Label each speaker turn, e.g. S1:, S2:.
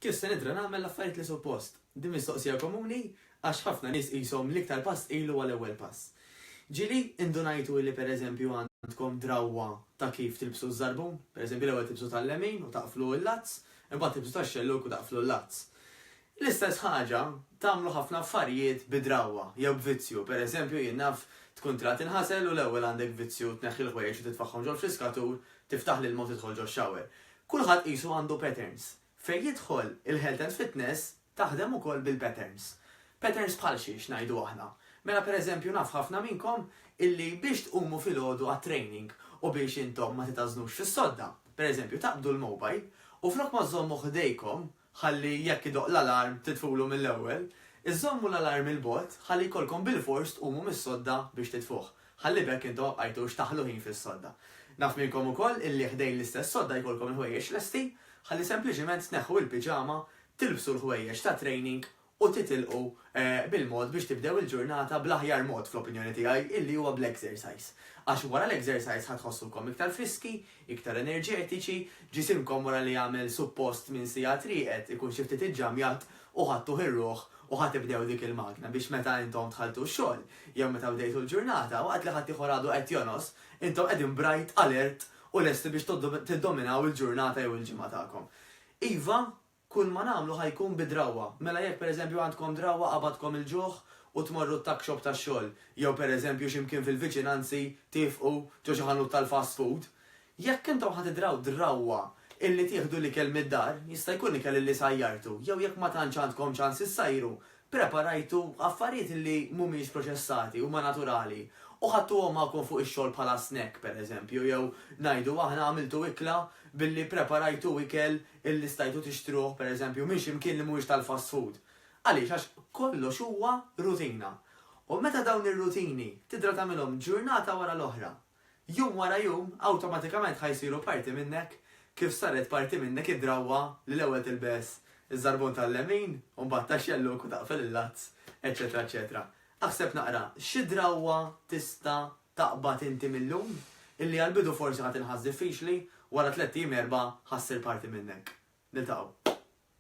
S1: Kif se nidra nagħmel l-affarijiet li suppost? Din mistoqsija komuni għax ħafna nies qishom l-iktar pass tqil huwa l-ewwel pass. Ġieli, indunajtu li pereżempju għandkom drawwa ta' kif tilbsu ż-żarbun? Pereżempju l-ewwel tilbsu tal-lemin u taqflu l-lazz, imbagħad tilbsu tax-xellug u taqflu l-lazz. L-istess ħaġa tagħmlu ħafna affarijiet bi drawwa jew b'vizzju. Per eżempju, jien naf tkun trid tinħasel u l-ewwel għandek vizzju tneħħi l-ħwejjeġ u titfagħhom ġol-friskatur, tiftaħ l-ilma u tidħol ġox-shower. Kulħadd qisu għandu patterns. Fejn jidħol il-health and fitness taħdem ukoll bil-patterns. Patterns bħal xi, x'ngħidu aħna? Mela per eżempju naf ħafna minnkom illi biex tqumu filgħodu għat-training u biex intom ma titgħażnux fis-sodda, per eżempju taqbdu l-mobile u flok ma żżommu ħdejkom ħalli jekk idoqq l-alarm titfulu mill-ewwel, iżżommu l-alarm 'il bogħod ħalli jkollkom bilfors tqumu mis-sodda biex titfuh, ħalli b'hekk intom ma bqajtux taħlu ħin fis-sodda. Naf minnkom ukoll illi ħdejn l-istess sodda jkollkom il-ħwejjeġ lesti, ħalli sempliċiment tneħħu il-piġama, tilbsu l-ħwejjeġ tat-training u titilqu bil-mod biex tibdew il-ġurnata bl-aħjar mod, fl-opinjoni tiegħi, illi huwa bl-exercise. Għax wara l-exercise ħa tħossukom iktar friski, iktar enerġetiċi, ġisimkom wara li għamel suppost minn siegħat rieqed ikun xi ftit iġġamjat u ħadtuh ir-ruħ u ħa tibdew dik il-magna biex meta intom dħaltu x-xogħol jew meta bdejtu l-ġurnata, waqt li ħaddieħor għadu qed jonos, intom qegħdin bright, alert u lesti biex tiddominaw il-ġurnata jew il-ġimgħa tagħkom. Iva, Kull ma nagħmlu ħa jkun bi drawwa. Mela jekk pereżempju għandkom drawwa qabadkom il-ġuħ u tmorru t-tuck shop tax-xogħol, jew pereżempju xi mkien fil-viċinanzi tifqu ġo xi ħanut tal-fast food, jekk intom ħa tidraw drawwa illi tieħdu l-ikel mid-dar, jista' jkun ikel illi sajjartu, jew jekk ma tantx għandkom ċans issajru, Preparajtu affarijiet li mhumiex proċessati, huma naturali, u ħadtuhom magħkom fuq ix-xogħol bħala snack, pereżempju, jew, ngħidu aħna, għamiltu ikla billi ppreparajtu ikel li stajtu tixtruh, pereżempju, minn xi mkien li mhuwiex tal-fast food. Għaliex? Għax kollox huwa rutina. U meta dawn ir-rutini tidra tagħmilhom ġurnata wara l-oħra, Jum wara jum, awtomatikament ħa jsiru parti minnek kif saret parti minnek id-drawwa li l-ewwel tilbes iż-żarbun tal-lemin u mbagħad taxxelluk u taqfel il-lazz, eċċetera eċċetera. Aħseb naqra, xi drawwa tista' taqbad inti mil-lum, illi għall-bidu forsi ħa tinħass diffiċli, wara tlett ijiem erbgħa ħa ssir parti minnek. Niltaqgħu.